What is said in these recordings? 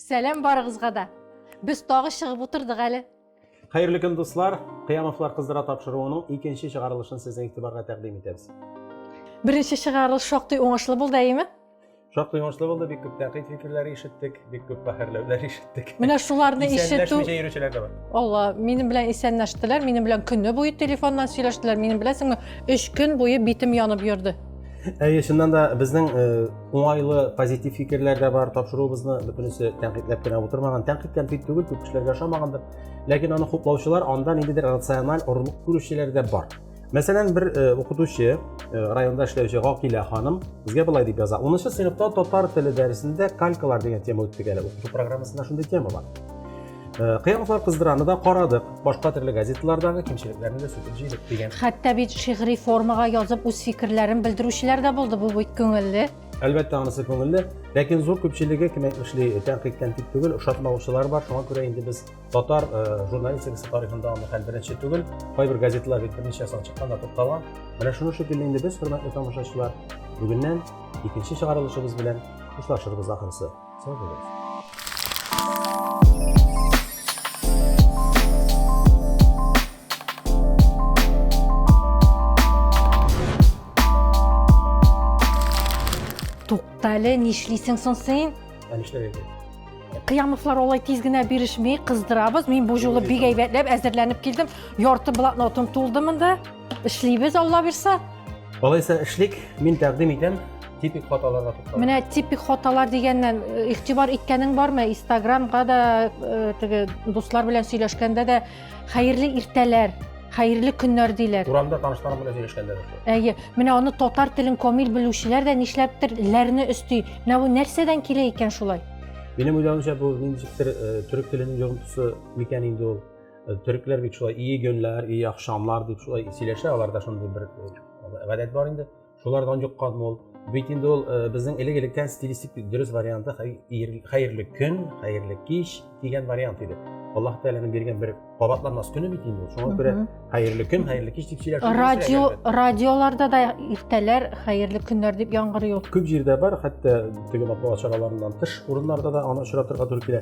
Сәлам барыгызга да! Без тагы чыгып утырдык әле. Хәерле көн, дуслар! Кыямовлар кыздыра тапшыруының икенче чыгарылышын сезнең игътибарга тәкъдим итәбез. Беренче чыгарылыш шактый уңышлы булды, әйеме? Шактый уңышлы булды, бик күп тәкъид фикерләре ишеттек, бик күп бәһәрләүләр ишеттек. Менә шуларны ишетү... Исәнләшмичә йөрүчеләр дә бар. Алла, минем белән исәнләштеләр, минем белән көне буе телефоннан сөйләштеләр, минем беләсеңме, өч көн буе битем янып йөрде. әйе чыннан да безнең э, уңайлы позитив фикерләр дә бар тапшыруыбызны бөтенесе тәнкыйтьләп кенә утырмаган тәнкыйть тәнкыйть түгел күп кешеләргә ошамагандыр ләкин аны хуплаучылар анда ниндидер рациональ орлык күрүчеләр дә бар мәсәлән бер э, укытучы э, районда эшләүче гакилә ханым безгә былай дип яза унынчы сыйныфта татар теле дәресендә калькалар дигән тема үттек әле укыту программасында шундый тема бар Э, кыяматлар кыздыраны да карадык башка төрле газеталардагы кимчелекләрне дә сүтеп җыйдык дигән хәтта бит шигъри формага язып үз фикерләрен белдерүчеләр дә булды бу бит күңелле әлбәттә анысы күңелле ләкин зур күпчелеге кем әйтмешли тәнкыйтьтән тик түгел ошатмаучылар бар шуңа күрә инде без татар э, журналистикасы тарихында аны хәл беренче түгел кайбер газеталар бит берничә сан чыккан да тукталган менә шуның шикелле инде без хөрмәтле тамашачылар бүгеннән икенче чыгарылышыбыз белән хушлашырбыз ахрысы Sağ Туктале, нишлисең соң син? Ә нишләр инде? Кыямовлар алай тиз генә бирешми, кыздырабыз. Мин бу жолы бик әйбәтләп әзерләнеп килдем. Ярты блокнотым тулды монда. Эшлибез, Алла бирсә. Алайса эшлик, мин тәкъдим итәм типик хаталарга тукталып. Менә типик хаталар дигәннән э, игътибар иткәнең бармы? Инстаграмга да э, теге дуслар белән сөйләшкәндә дә хәерле иртәләр, хәерле көннәр диләр. Урамда танышларым белән сөйләшкәндә дә. Әйе, менә аны татар телен камил белүчеләр дә нишләптер ләрне өсти. Менә бу нәрсәдән килә икән шулай? Минем уйлавымча бу ничектер э, төрек теленең йогынтысы микән инде ул. Төрекләр бит шулай ие гөнләр, ие ахшамлар дип шулай сөйләшә, аларда шундый бер гадәт бар инде. Шулардан юкка мул. Бит инде ул безнең элек-электән стилистик дөрес варианты хәерле көн, хәерле кич дигән вариант иде. Аллаһ Тәгаләнең биргән бер кабатланмас көне бит инде. Шуңа күрә хәерле көн, хәерле кич дип сөйләшә. Радио, радиоларда да иртәләр хәерле көннәр дип яңгырый ул. Күп җирдә бар, хәтта теге матбугат чараларыннан тыш урыннарда да аны очратырга туры килә.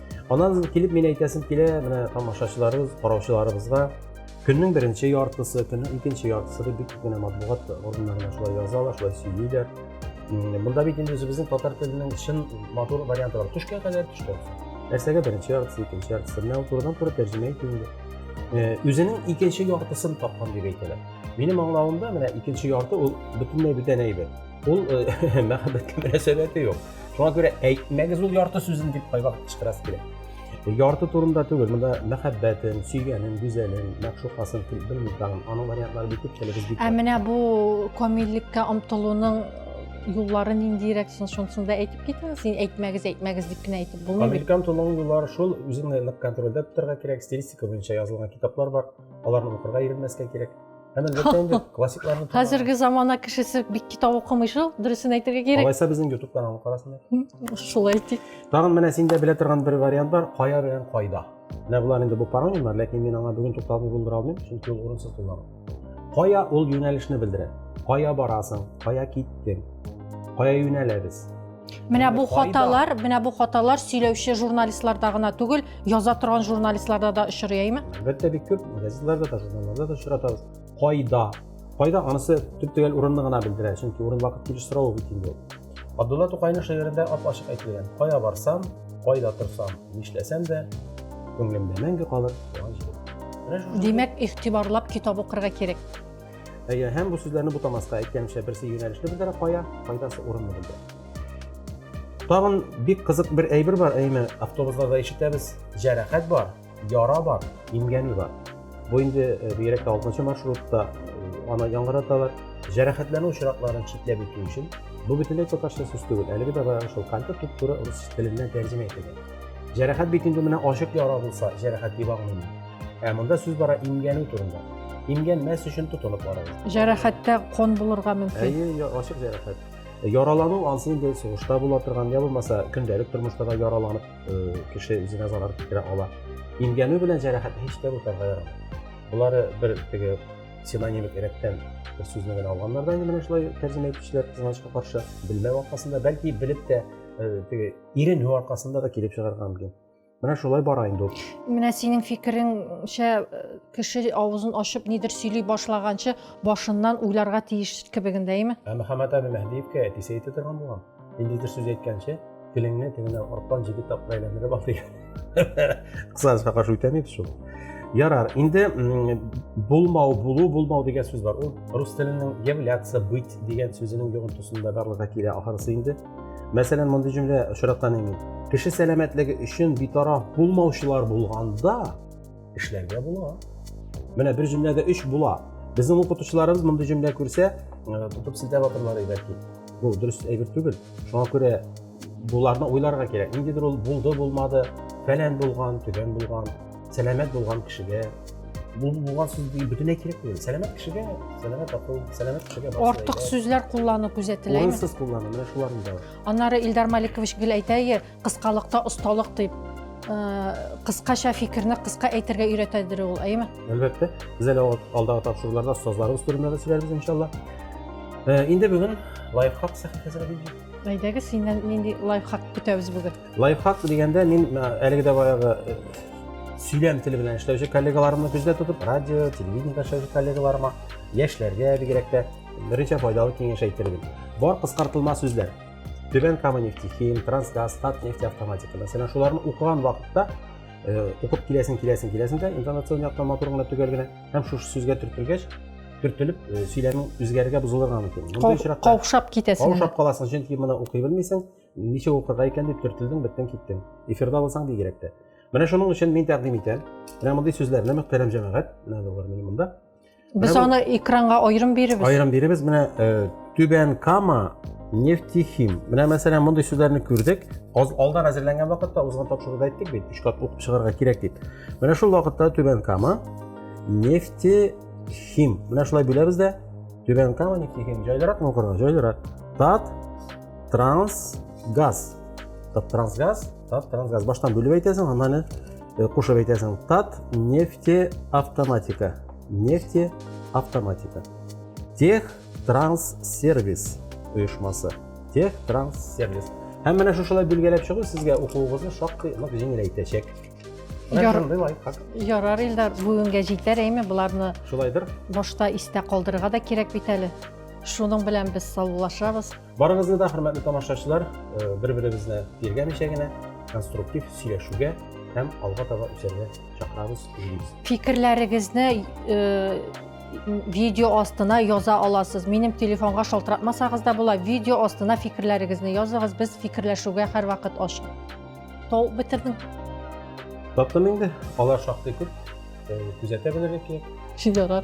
Анан килеп мин әйтәсем килә, менә тамашачыларыбыз, караучыларыбызга көннең беренче яртысы, көннең икенче яртысы дип бик кенә матбугат органнарында шулай язалар, шулай сөйлиләр. Монда бит инде үзебезнең татар теленең чын матур варианты бар. Төшкә кадәр төшкә. Нәрсәгә беренче яртысы, икенче яртысы, менә турыдан туры тәрҗемә итү инде. Э, үзенең икенче яртысын тапкан дип әйтәләр. Минем аңлавымда менә икенче ярты ул бөтенләй бүтән әйбер. Ул э, мәхәббәткә мөнәсәбәте юк. Шуңа күрә әйтмәгез ул ярты сүзен дип кайвакыт кычкырасы килә. Ярты турында түгел, монда мәхәббәтен, сөйгәнен, гүзәлен, мәгъшукасын, белмим тагын. Аның вариантлары бик күп телебез бик. Ә менә бу камиллеккә омтылуның юллары ниндирәк соң шунысын да әйтеп китегез син әйтмәгез әйтмәгез дип кенә әйтеп булмый американ тулының юллары шул үзеңне нык контрольдә тотарга кирәк стилистика буенча язылган китаплар бар аларны укырга иренмәскә кирәк Әнә ләкин инде классикларны Хәзерге замана кешесе бик китап укымый шул, дөресен әйтергә кирәк. Алайса безнең YouTube каналын карасыннар. Шулай итик. Тагын менә синдә белә торган бер вариант бар, кая белән кайда. Менә болар инде бу паронимнар, ләкин мин аңа бүген тукталып булдыра алмыйм, чөнки ул урынсыз куллану. Кая ул юнәлешне белдерә? Кая барасың? Кая киттең? Кая юнәләбез? Менә бу хаталар, менә бу хаталар сөйләүче журналистларда гына түгел, яза торган журналистларда да очрый, әйме? Әлбәттә, бик күп газеталарда да, журналларда да очратабыз. Кайда? Кайда анысы төп төгәл урынны гына белдерә, чөнки урын вакыт килеш сорау бит инде. Абдулла Тукайның шигырендә ап-ачык әйтелгән, кая барсам, кайда торсам, нишләсәм дә, күңелемдә мәңге калыр туган җирем. Димәк, игътибарлап китап укырга кирәк. Әйе, һәм бу сүзләрне бутамаска әйткәнчә берсе юнәлешне белдерә, кая, кайдасы урынны белдерә. Тагын бик кызык бер әйбер бар, әйме, автобусларда ишетәбез, җәрәхәт бар, яра бар, имгәнү бар. Бу инде э, бигрәк тә 6 маршрутта э, аны яңгыраталар. Җәрәхәтләнү очракларын читләп үтү өчен бу бөтенләй татарча сүз түгел. Әлеге дә бара шул калька туп-туры рус теленнән тәрҗемә ителгән. Җәрәхәт бит инде менә ачык яра булса, җәрәхәт дип аңлыйм. Ә монда сүз бара имгәнү турында. Имгән мәс өчен тотылып бара. Җәрәхәттә кон булырга мөмкин. Әйе, ачык җәрәхәт. Яралану ансы инде сугышта була торган, я булмаса көндәлек тормышта да яраланып э, кеше үзенә зарар китерә ала. Имгәнү белән җәрәхәт һич тә бутарга ярамый. Булары бер теге синонимик рәттән бер сүзне генә алганнар да инде менә шулай тәрҗемә итүчеләр кызганычка каршы белмәү аркасында, бәлки белеп тә э, теге иренү аркасында да килеп чыгарга мөмкин. Менә шулай бара инде ул. Менә синең фикереңчә, э, кеше авызын ачып нидер сөйли башлаганчы башыннан уйларга тиеш кебегендә, әйме? Ә Мөхәммәт әбе Мәһдиевкә әтисе әйтә торган булган. Ниндидер сүз әйткәнче, телеңне тегенә арттан җиде тапкыр әйләндереп ал дигән. Кысасызга каршы үтәмибез шул. Ярар, инде булмау, булу, булмау дигән сүз бар. Ул рус теленең являться, быть дигән сүзенең йогынтысында барлыкка килә ахырысы инде. Мәсәлән, мондый җөмлә очраткан инде. Кеше сәламәтлеге өчен битараф булмаучылар булганда эшләргә була. Менә бер җөмләдә өч була. Безнең укытучыларыбыз мондый җөмлә күрсә, тотып силтәп атырлар иде әти. Бу дөрес әйбер түгел. Шуңа күрә буларны уйларга кирәк. Ниндидер ул булды, булмады, фәлән булган, төгән булган. сәламәт булган кешегә бу булган сүз бөтенләй кирәк түгел сәламәт кешегә сәламәт акыл сәламәт кешегә артык сүзләр куллану күзәтеләме урынсыз куллану менә шуларны да аннары илдар маликович гел әйтәе кыскалыкта осталык дип кыскача фикерне кыска әйтергә өйрәтәдер ул әйеме әлбәттә без әле алдагы тапшыруларда остазларыбыз турында да сөйләрбез иншалла инде бүген лайфхак сәхифәсенә әйдәгез синнән нинди лайфхак көтәбез бүген Лайфхак дигәндә мин әлеге дә баягы э, сөйләм теле белән эшләүче коллегаларымны күздә тотып, радио, телевидениедә эшләүче коллегаларыма, яшьләргә бигрәк тә берничә файдалы киңәш әйтер идем. Бар кыскартылма сүзләр. Түбән Кама нефтехим, Трансгаз, Татнефть автоматика. Мәсәлән, шуларны укыган вакытта э, укып киләсең, киләсең, киләсең дә, интонацион яктан матур гына төгәл генә һәм шушы сүзгә төртелгәч, төртелеп э, сөйләмең үзгәрергә бозылырга мөмкин. Каушап китәсең. Каушап каласың, чөнки моны укый белмисең. Ничә укырга икән дип төртелдең, беттең, киттең. Эфирда булсаң бигрәк тә. Менә шуның өчен мин тәкъдим итәм. Менә мондый сүзләрне мөхтәрәм җәмәгать, менә булыр мин монда. Без Менә бу- аны экранга аерым биребез. Аерым биребез менә э, Түбән Кама нефтехим. Менә мәсәлән мондый сүзләрне күрдек. Аз алдан әзерләнгән вакытта узган тапшыруда әйттек бит, өч кат укып чыгарга кирәк дип. Менә шул вакытта Түбән Кама нефтехим. Менә шулай бүләбез дә. Түбән Кама нефтехим. Җайлыракмы укырга? Җайлырак. Тат трансгаз тат трансгаз тат трансгаз баштан бөлеп әйтәсең аннан әле кушып э, әйтәсең тат нефтеавтоматика нефтеавтоматика тех транс сервис оешмасы тех транс сервис һәм менә шушылай билгеләп чыгу сезгә укуыгызны шактый нык җиңеләйтәчәк ярар илдар бүгенгә җитәр әйме боларны шулайдыр башта истә калдырырга да кирәк бит әле Шуның белән без саулашабыз. Барыгызны да, хөрмәтле тамашачылар, э, бер-беребезне тиргәмичә генә конструктив сөйләшүгә һәм алга таба үсәргә чакырабыз, җыйбыз. Фикерләрегезне э, видео астына яза аласыз. Минем телефонга шалтыратмасагыз да була, видео астына фикерләрегезне языгыз. Без фикерләшүгә һәрвакыт ачык. Тол бетердең. Таптым инде. Алар шактый күп. Э, күзәтә белергә кирәк. Ярар.